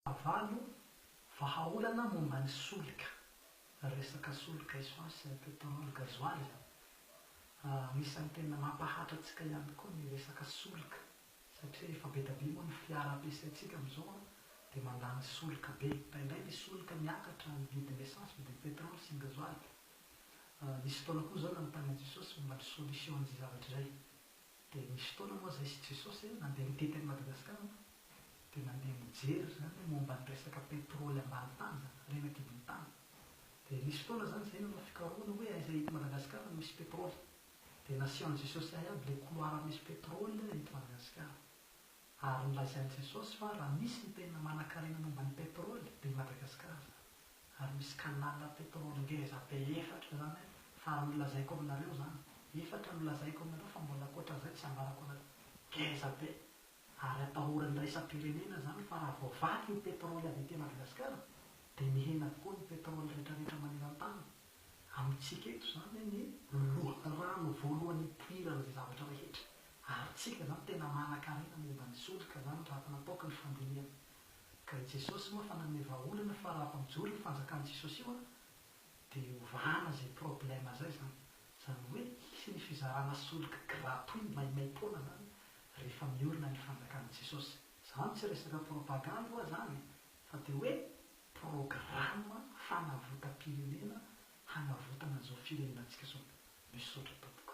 Fahavalo, Vahaolana momba ny solika, resaka solika essence sy ny pétrole, gasoil izany. Anisan'ny tena mampahatra antsika ihany koa ny resaka solika satria efa be dia be moa ny fiara ampiasaintsika amin'izao dia mandany solika be. Indraindray ny solika miakatra ny vidin'ny essence, vidin'ny pétrole sy ny gasoil. Nisy fotoana koa izao nanontanian'i Jesosy momba ny solution an'izay zavatra izay. Dia nisy fotoana moa izay izy Jesosy an, nandeha nitety an'i Madagasikara an, dia nandeha nijery izany momba ny resaka petrôly ambany tany izany, ary eny an-kibon'ny tany. Dia nisy fotoana izany izay nanao fikarohana hoe aiza eto Madagasikara no misy petrôly. Dia nasehon'i Jesosy ahy aby ilay couloir misy petrôly eto Madagasikara. Ary nolazain'i Jesosy fa raha misy ny tena manankarena momba ny petrole dia i Madagasikara izany. Ary misy canal petrole ngeza be efatra izany an! Fa ary nolazaiko aminareo izany. Efatra nolazaiko aminareo fa mbola ankoatran'izay tsy ambarako anareo. Ngeza be! Ary atahoran'ny iraisam-pirenena izany fa raha voavaky ny petrole avy ety Madagasikara dia mihena avokoa ny petrole rehetrarehetra maneran-tany. Amintsika eto izany anie loharano voalohany ipoirana izay zavatra rehetra ary tsika izany tena manankarena momba ny solika izany raha efa napoaka ny fandinihana ka i Jesosy moa efa nanome vahaolana fa raha efa mijoro io fanjakan'i Jesosy io an dia ovana izay problème izay izany izany hoe hisy ny fizarana solika gratuit maimaimpoana izany rehefa miorina ny fanjakan'i Jesosy. Izany tsy resaka propagande hoa izany e fa dia hoe Programa fanavotam-pirenena hanavotana izao firenena antsika izao. Misaotra tompoko.